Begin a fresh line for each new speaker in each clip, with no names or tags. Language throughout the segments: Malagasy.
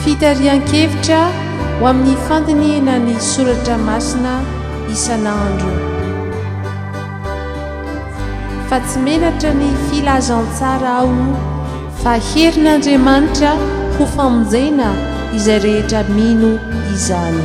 Fitarihan-kevitra ho amin'ny fandinihina ny soratra masina isan'andro. Fa tsy menatra ny filazantsara aho fa herin'Andriamanitra ho famonjena izay rehetra mino izany.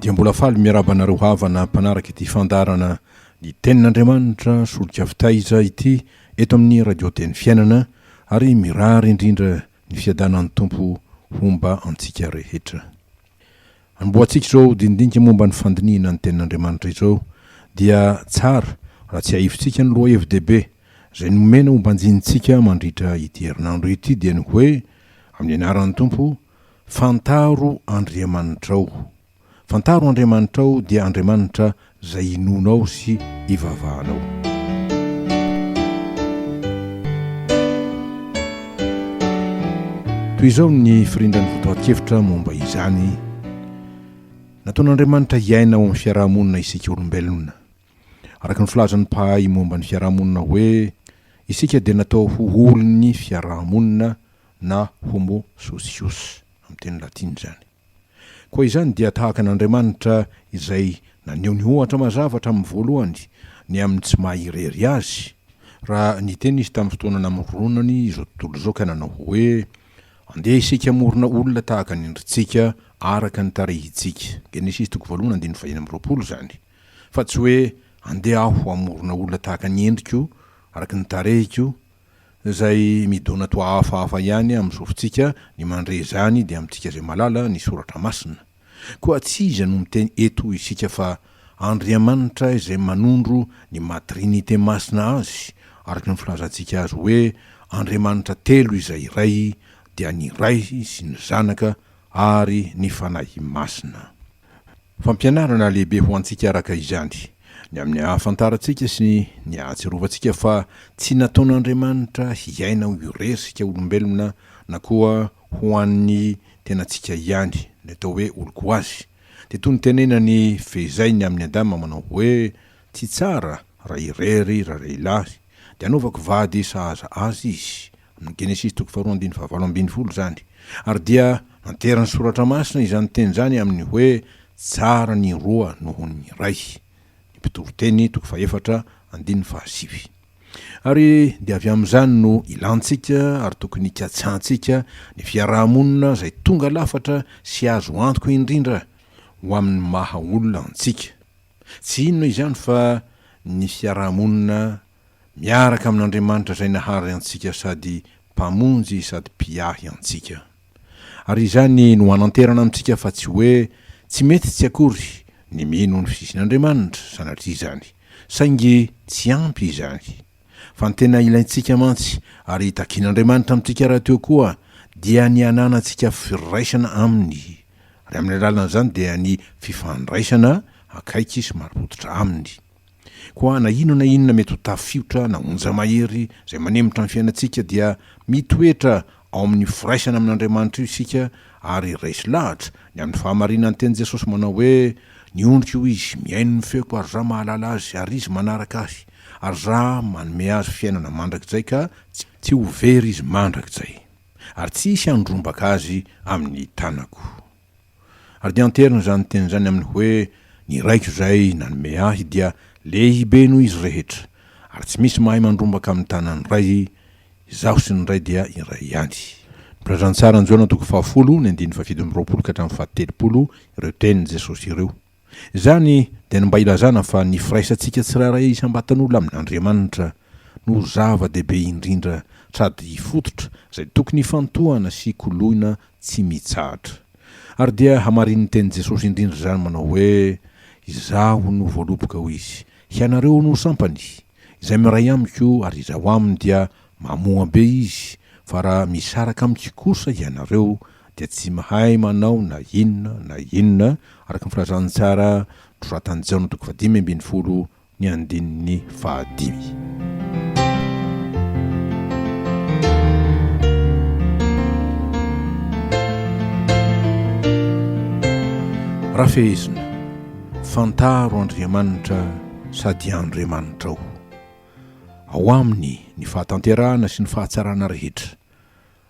Dia mbola faly miarahaba anareo havana mpanaraka ity fandaharana Ny Tenin'Andriamanitra Solika Fitaiza ity eto amin'ny Radio Teny Fiainana ary mirary indrindra ny fiadanan'ny Tompo homba antsika rehetra. Amboatsika izao dinidinika momba ny fandinihina ny Tenin'Andriamanitra izao, dia tsara raha tsiahivitsika ny lohahevi-dehibe izay nomena hombanjinintsika mandritra ity herinandro ity, dia ny hoe, Amin'ny anaran'ny Tompo, fantaro Andriamanitrao. Fantaro Andriamanitrao dia Andriamanitra izay hinoanao sy hivavahanao. Toy izao ny firindran'ny fotoan-kevitra momba izany, Nataon'Andriamanitra hiaina ao amin'ny fiaraha-monina isika olombelona. Araka ny filazan'ny mpahay momba ny fiaraha-monina hoe, isika dia natao ho olon'ny fiaraha-monina na homo socius, amin'ny teny latina izany. Koa izany dia tahaka an'Andriamanitra izay naneho ny ohatra mazava hatramin'ny voalohany ny amin'ny tsy maha irery Azy, raha niteny Izy tamin'ny fotoana namoronany izao tontolo izao ka nanao hoe, Andeha isika hamorona olona tahaka ny endritsika, araka ny tarehintsika. Genesisy toko voalohany andininy faheny amby roapolo izany. Fa tsy hoe, Andeha Aho hamorona olona tahaka ny endriko, araka ny tarehiko, Zay midona toa hafahafa ihany amin'ny sofintsika ny mandre izany dia amintsika izay malala ny soratra masina. Koa tsy iza no miteny eto isika fa Andriamanitra izay manondro ny maha Trinite masina azy araka ny filazantsika azy hoe Andriamanitra telo izay iray dia ny Ray sy ny Zanaka ary ny Fanahy Masina. Fampianarana lehibe ho antsika araka izany, ny amin'ny ahafantarantsika sy ny ahatsiarovantsika fa tsy nataon'Andriamanitra hiaina ho iresika olombelona na koa ho an'ny tenantsika ihany, ny atao hoe olon-koazy. Dia toy ny tenenan'i Fehizay ny amin'i Adama manao hoe, Tsy tsara raha irery ralehilahy, dia anaovako vady sahaza azy izy, Ny Genesisy toko faharoa andininy fahavalo ambin'ny folo izany. Ary dia nanterin'ny Soratra Masina izany teny izany amin'ny hoe tsara ny roa noho ny iray. Ny Mpitoriteny toko fahefatra andininy fahasivy. Ary dia avy amin'izany no ilantsika ary tokony hikatsahantsika ny fiaraha-monina izay tonga lafatra sy azo antoka indrindra ho amin'ny maha olona antsika. Tsy inona izany fa ny fiaraha-monina miaraka amin'Andriamanitra izay nahary antsika sady Mpamonjy sady Mpiahy antsika. Ary izany no hananterana amintsika fa tsy hoe tsy mety tsy akory ny mino ny fisian'Andriamanitra sanatria izany, saingy tsy ampy izany. Fa ny tena ilaintsika mantsy ary itakian'Andriamanitra amintsika rahateo koa dia ny hananantsika firaisana Aminy, ary amin'ny alalan'izany dia ny fifandraisana akaiky sy marim-pototra Aminy. Koa na inona na inona mety ho tafiotra na onja-mahery izay manemotra ny fiainantsika dia mitoetra ao amin'ny firaisana amin'Andriamanitra io isika ary raiso lahatra ny amin'ny fahamarinan'ny tenin'i Jesosy manao hoe, Ny ondriko io izy, mihaino ny feoko ary Izaho mahalala azy ary izy manaraka Ahy, ary Izaho manome azy fiainana mandrakizay ka tsy ho very izy mandrakizay, ary tsy hisy handrombaka azy amin'ny tanako. Ary dia anteriny izany teny izany amin'ny hoe, Ny Raiko izay nanome ahy dia lehibe noho izy rehetra, ary tsy misy mahay mandrombaka amin'ny tanan'ny Ray, Izaho sy ny Ray dia iray ihany. Nolalazan'ny Sarin'i Jaona toko fahafolo ny andininy fahafito amby roapolo ka hatramin'ny fahatelopolo ireo tenin'i Jesosy ireo. Izany dia ny mba hilazana fa ny firaisantsika tsirairay isam-batan'olona amin'Andriamanitra no zava-dehibe indrindra sady fototra izay tokony hifantohana sy koloina tsy mitsahatra. Ary dia hamarinin'ny tenin'i Jesosy indrindra izany manao hoe, Izaho no voaloboka, hoy Izy, hianareo no sampany. Izay miray amiko ary izaho aminy dia mamoa be izy fa raha misaraka amiko kosa ianareo dia tsy mahay manao na inona na inona araka ny filazantsara nosoratan'i Jaona toko fahadimy ambin'ny folo ny andininy fahadimy. Rafehezina, fantaro Andriamanitra sady Andriamanitrao. Ao Aminy ny fahatanterahana sy ny fahatsarana rehetra,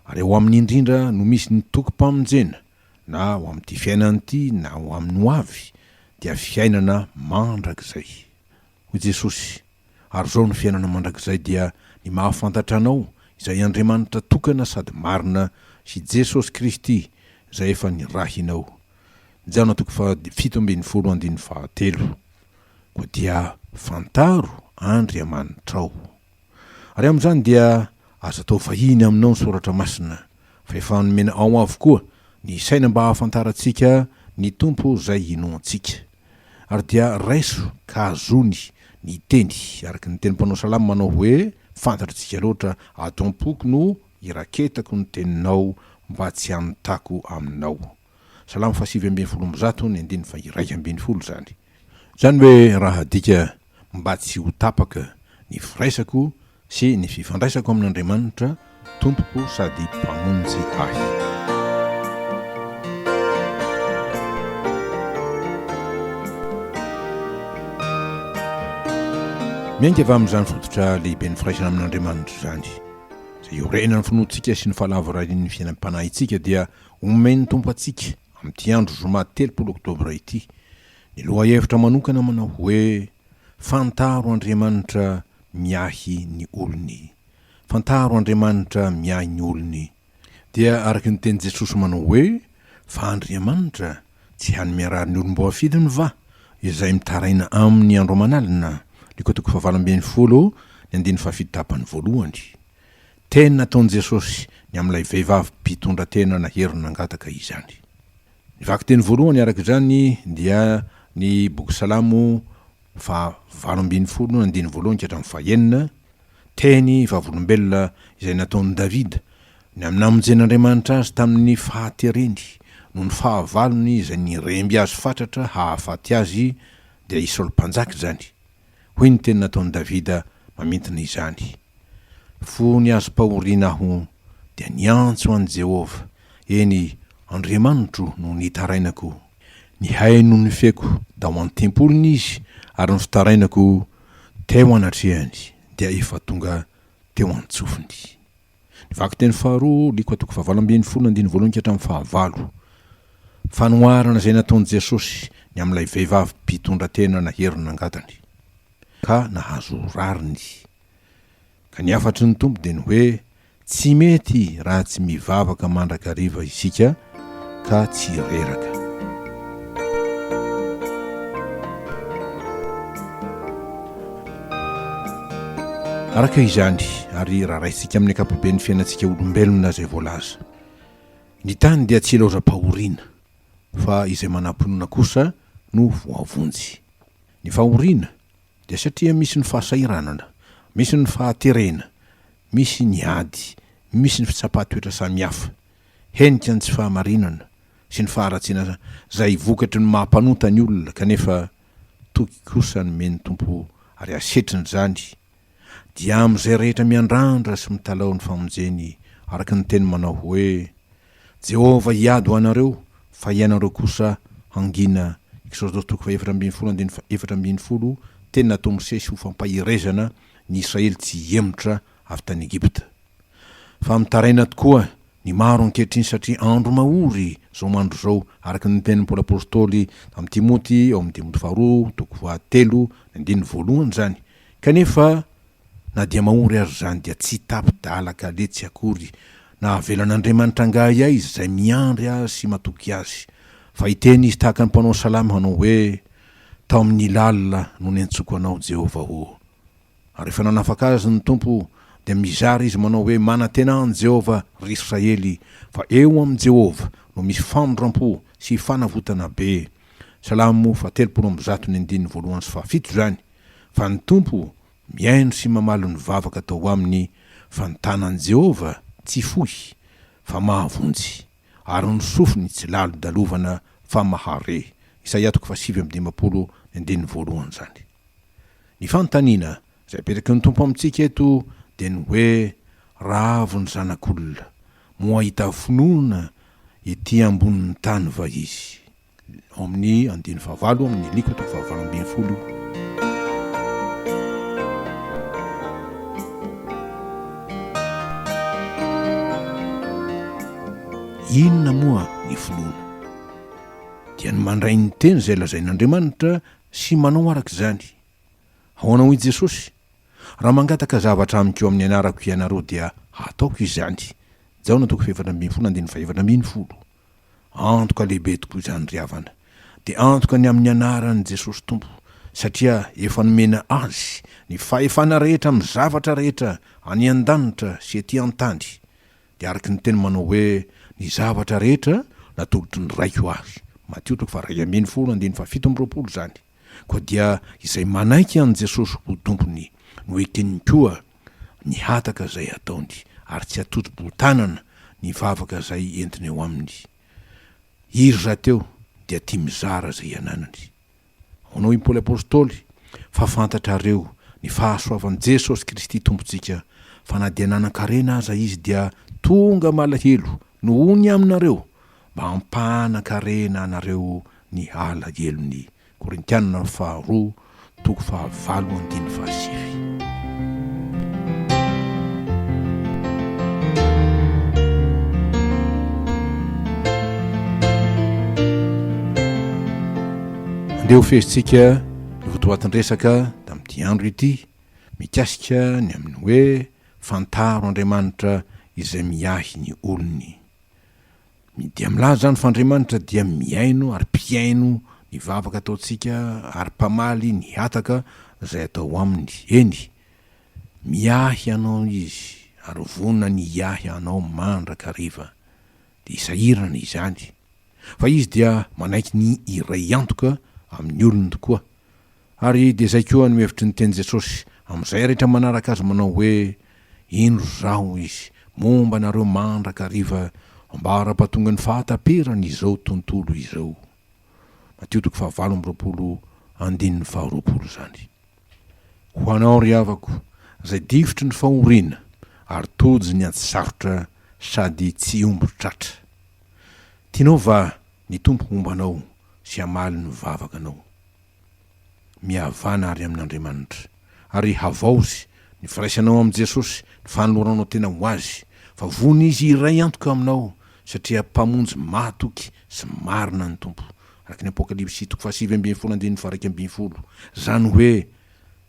ary ao Aminy indrindra no misy ny tokim-pamonjena na ho amin'ity fiainana ity na ho amin'ny ho avy dia fiainana mandrakizay. Hoy Jesosy, Ary izao no fiainana mandrakizay dia ny mahafantatra Anao izay Andriamanitra tokana sady marina sy Jesosy Kristy izay efa nirahinao. Jona toko faha fito ambin'ny folo andininy fahatelo. Koa dia fantaro Andriamanitrao. Ary amin'izany dia aza atao vahiny aminao ny soratra masina, fa efa nomena ao avokoa ny saina mba hahafantarantsika ny Tompo izay inoantsika. Ary dia raiso ka azony ny teny, araka ny tenin'ny mpanao salamo manao hoe, Fantatr'tsika loatra, ato am-poko no iraketako ny teninao mba tsy hanotako aminao. Salamo fahasivy ambin'ny folo amby zato ny andininy faha-iraika ambin'ny folo izany. Izany hoe raha adika mba tsy ho tapaka ny firaisako sy ny fifandraisako amin'Andriamanitra Tompoko sady Mpamonjy ahy. Miainga avy amin'izany fototra lehiben'ny firaisana amin'Andriamanitra izany, izay iorenan'ny finoantsika sy ny fahalavorarian'ny fiainam-panahintsika dia Omen'ny Tompo antsika, amin'ity andro zoma telopolo oktobra ity, ny lohahevitra manokana manao hoe, Fantaro Andriamanitra miahy ny olony. Fantaro Andriamanitra miahy ny olony. Dia araka ny tenin'i Jesosy manao hoe, Fa Andriamanitra tsy hany miarary ny olom-boafidiny va? izay mitaraina aminy andro aman'alina, Ny kotoko fahavalo ambin'ny folo, ny andininy fahafito tapany voalohany. Teny nataon'i Jesosy ny amin'ilay vehivavy mpitondra tena nahery nangataka izany. Ny vakiteny voalohany araka izany dia ny boky Salamo faha valo ambin'ny folo andininy voalohany ka hatramin'ny faha enina, teny vavolombelona izay nataon'i Davida ny amin'ny namonjen'Andriamanitra azy tamin'ny fahatereny noho ny fahavalony izay niremby azy fatratra hahafaty azy, dia i Saoly Mpanjaka izany. Hoy ny teny nataon'i Davida mamintina izany, Fony hazom-pahoriana aho, dia niantso an'i Jehovah, eny, Andriamanitro no nitarainako. Nihaino ny feoko tao an-tempoliny izy, ary ny fitarainako teo anatrehany dia efa tonga teo an-tsofiny. Ny vakiteny faharoa, Likoa toko fahavalo ambin'ny folo, andininy voalohany ka hatramin'ny fahavalo. Fanoharana izay nataon'i Jesosy ny amin'ilay vehivavy mpitondra tena nahery ny nangatany, ka nahazo rariny. Ka ny hafatry ny Tompo dia ny hoe, Tsy mety raha tsy mivavaka mandrakariva isika ka tsy reraka. Araka izany, ary raha raisintsika amin'ny ankapoben'ny fiainantsika olombelona izay voalaza, ny tany dia tsy ilaozam-pahoriana, fa izay manam-pinoana kosa no voavonjy. Ny fahoriana dia satria misy ny fahasahiranana, misy ny fahaterena, misy ny ady, misy ny fitsapan-toetra samihafa. Henika ny tsy fahamarinana sy ny faharatsiana zay vokatry ny maha mpanota ny olona kanefa toky kosa ny men'ny Tompo ary hasetriny izany dia amin'izay rehetra miandrandra sy mitalaho ny famonjeny araka ny teny manao hoe Jehovah hiady ho anareo fa ianareo kosa hangina Exodos toko fahefatra ambin'ny folo andininy efatra ambin'ny folo Tena atao misesy ho fampaherezana ny Israely tsy hihemotra avy tany Egypta. Fa mitaraina tokoa ny maro ankehitriny satria andro mahory izao mandro izao, araka ny nitenin'i Paoly Apostoly tamin'i Timoty ao amin'ny Timoty faharoa toko fahatelo ny andininy voalohany izany, kanefa na dia mahory aza izany dia tsy tapi-dalaka letsy akory na havelan'Andriamanitra angahy aiza izay miandry Azy sy matoky Azy, fa hiteny Izy tahaka ny mpanao salamo hanao hoe, Tao amin'ny lalina no niantsoako anao Jehovah ô. Ary rehefa nanafaka azy ny Tompo, dia mizara izy manao hoe, Manantena an'i Jehovah, ry Israely, fa eo amin'i Jehovah no misy famindram-po sy fanavotana be. Salamo fahatelopolo amby zato ny andininy voalohany sy fahafito izany, fa ny Tompo mihaino sy mamaly ny vavaka atao aminy, fa ny tanan'i Jehovah tsy fohy, fa mahavonjy. ary ny sofiny tsy lalondalovana fa mahare, Isaia toko fahasivy amby dimampolo, ny andininy voalohany izany. Ny fanontaniana izay apetraky ny Tompo amintsika eto dia ny hoe, Raha avy ny Zanak'olona, moa hahita finoana ety ambonin'ny tany va izy? ao amin'ny andiny fahavalo amin'ny aliko toko fahavalo ambin'ny folo io. Inona moa ny finoana? Dia ny mandray ny teny izay lazain'Andriamanitra sy manao araka izany. Ahoana hoy Jesosy? Raha mangataka zavatra amiko amin'ny anarako ianareo dia hataoko izany. Jaona toko fahefatra ambin'ny folo andininy fahefatra ambin'ny folo. Antoka lehibe tokoa izany ry havana, dia antoka ny amin'ny anaran'i Jesosy Tompo, satria efa nomena Azy ny fahefana rehetra amin'ny zavatra rehetra any an-danitra sy ety an-tany, dia araka ny teny manao hoe ny zavatra rehetra natolotry ny Raiko Ahy, Matio toko faha-iray ambin'ny folo, andininy faha-fito amby roapolo izany. Koa dia izay manaiky an'i Jesosy ho Tompony no eken'ny koa ny hataka izay ataony, ary tsy atoto-bohon-tanana ny vavaka izay entiny eo aminy. Iry rahateo dia tia mizara izay ananany. Hono i Paoly Apostoly, Fa fantatrareo ny fahasoavan'i Jesosy Kristy Tompontsika, fa na dia nanan-karena aza izy dia tonga malahelo nohony aminareo, mba hampanan-karena anareo ny alahelony. Korintianina faharoa toko fahavalo andininy fahasivy. Andeha ho fehezintsika ny votoatin-dresaka tamin'ity andro ity mikasika ny amin'ny hoe fantaro Andriamanitra izay miahy ny olony. Ny dia milaza izany fa Andriamanitra dia mihaino ary mpihaino ny vavaka ataontsika ary mpamaly ny hataka izay atao aminy. Eny, miahy anao Izy ary vonona ny hiahy anao mandrakariva. Dia sahirana izany, fa Izy dia manaiky ny hiray antoka amin'ny olony tokoa. Ary dia izay koa no hevitry ny teny Jesosy amin'izay rehetra manaraka Azy manao hoe, Indro Izaho izy momba anareo mandrakariva ambara-pahatongan'ny fahataperan' izao tontolo izao. Matio toko fahavalo amby roapolo andininy faharoapolo izany. Ho anao ry havako, izay difotry ny fahoriana ary tojo ny ady sarotra sady tsy omby tratra. Tianao va ny Tompo homba anao sy hamaly ny vavakanao? Mihavana àry amin'Andriamanitra. Ary havaozy ny firaisanao amin'i Jesosy, ny fanoloranao tena ho Azy, fa vono Izy hiray antoka eo aminao, satria Mpamonjy mahatoky sy marina ny Tompo, araka ny Apokalypsy toko fahasivy ambin'ny folo andininy faharaika ambin'ny folo, izany hoe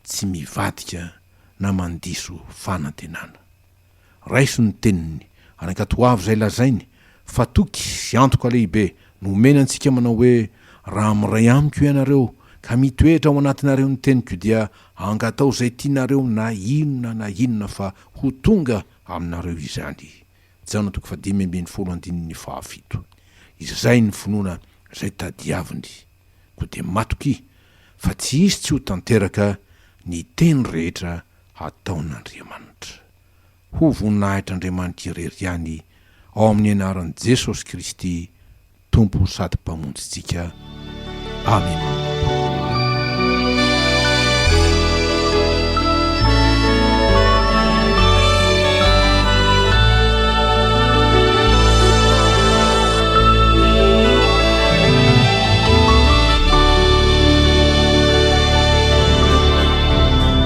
tsy mivadika na mandiso fanantenana. Raiso ny teniny, ary ankatoavo izay lazainy, fa toky sy antoka lehibe no omeny antsika manao hoe, Raha miray amiko ianareo, ka mitoetra ao anatinareo ny teniko dia angataho izay tianareo na inona na inona fa ho tonga aminareo izany. Jaona toko fahadimy ambin'ny folo andininy fahafito. Izay ny finoana izay tadiaviny. Koa dia matokia fa tsy hisy tsy ho tanteraka ny teny rehetra hataon'Andriamanitra. Ho voninahitr'Andriamanitra irery ihany ao amin'ny anaran'i Jesosy Kristy Tompo sady Mpamonjintsika. Amena.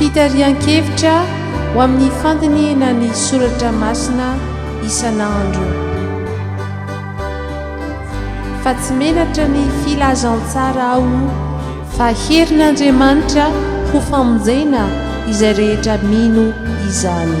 Fitarihan-kevitra ho amin'ny fandinihina ny soratra masina isan'andro. Fa tsy menatra ny filazantsara aho. Fa herin'Andriamanitra ho famonjena izay rehetra mino izany.